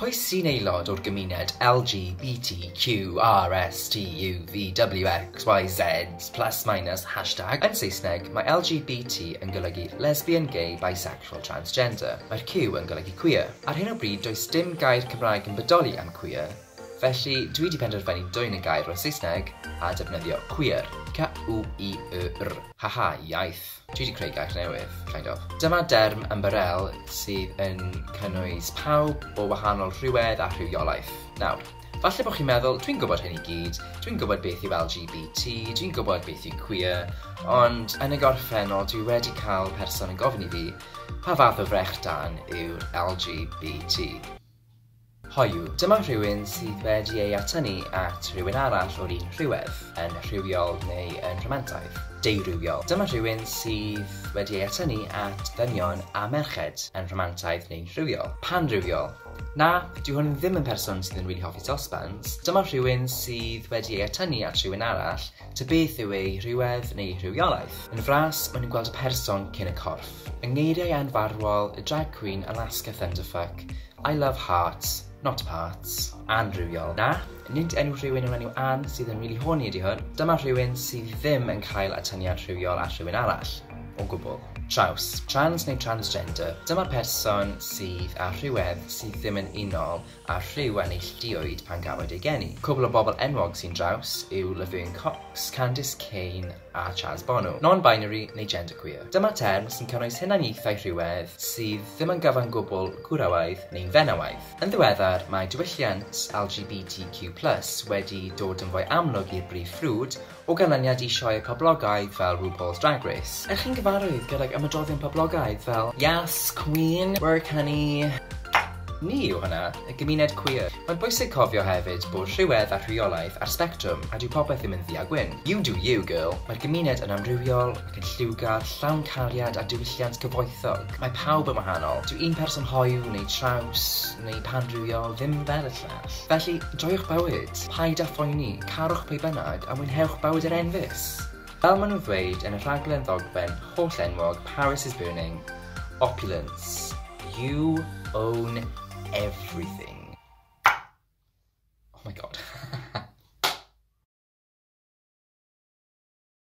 Pwy sy'n aelod o'r gymuned LGBTQRSTUVWXYZ plus minus hashtag Yn Saesneg, mae LGBT yn golygu lesbian, gay, bisexual, transgender. Mae'r Q yn golygu queer. Ar hyn o bryd does dim gair Cymraeg yn bodoli am queer, felly dwi 'di penderfynu dwyn y gair o'r Saesneg a defnyddio queer, Q-u-i-e-r. Haha, iaith. Dwi 'di creu gair newydd, kind of. Dyma derm ymbarél sydd yn cynnwys pawb o wahanol rhywedd a rhywiolaeth. Nawr, falle bod chi'n meddwl, dwi'n gwybod hyn i gyd, dwi'n gwybod beth yw LGBT, dwi'n gwybod beth yw queer, ond yn y gorffennol dwi wedi cael person yn gofyn i fi, pa fath o frechdan yw'r LGBT? Hoyw, dyma rhywun sydd wedi ei atynnu at rywun arall o'r un rhywedd, yn rhywiol neu yn rhamantaidd. Deurywiol, dyma rhywun sydd wedi ei atynnu at ddynion a merched, yn rhamantaidd neu'n rhywiol. Panrywiol, Na, dyw hwn ddim yn person sydd yn rili hoffi sosbans, dyma rhywun sydd wedi ei atynnu at rhywun arall, ta beth yw ei rhywedd neu ei rhywiolaeth. Yn fras, maen nhw'n gweld y person cyn y corff. Yng ngeiriau anfarwol y drag queen Alaska Thunderfuck, I love hearts, not parts. Ann rhywiol. Na, nid enw rhywun yn enw Ann sydd yn rili horny ydi hwn, dyma rhywun sydd ddim yn cael atyniad rhywiol ar rhywun arall, o gwbl. Traws, trans neu transgender, dyma'r person sydd â rhywedd sydd ddim yn unol â rhyw a neilltuoed pan gafwyd ei geni. Cwbl o bobl enwog sy'n draws yw Laverne Cox, Candice Cain, a Chaz Bono, non-binary neu genderqueer. Dyma term sy'n cynnwys hunaniaethau rhywedd sydd ddim yn gyfan gwbl gwrawaidd neu'n fenywaidd. Yn ddiweddar, mae diwylliant LGBTQ plus wedi dod yn fwy amlwg i'r brif ffrwd o ganlyniad i sioeau poblogaidd fel RuPaul's Drag Race. Ydych chi'n gyfarwydd gydag ymadroddion poblogaidd fel Yas, Cwîn, Work Honey, Ni yw hwnna, y gymuned cwiar. Mae'n bwysig cofio hefyd bod rhywedd a rheolaeth ar sbectrwm a dyw popeth ddim yn ddu a gwyn. You do you, girl. Mae'r gymuned yn amrywiol ac yn lliwgar, llawn cariad a diwylliant gyfoethog. Mae pawb yn wahanol. Dyw un person hoyw neu traws neu pan-rywiol ddim fel y llall. Felly, joiwch bywyd, paid â phoeni, carwch pwy bynnag a mwynhewch bywyd yr enfys! Fel maen nhw'n ddweud yn y rhaglen ddogfen holl-enwog Paris is Burning, Opulence, you own everything. Oh my god.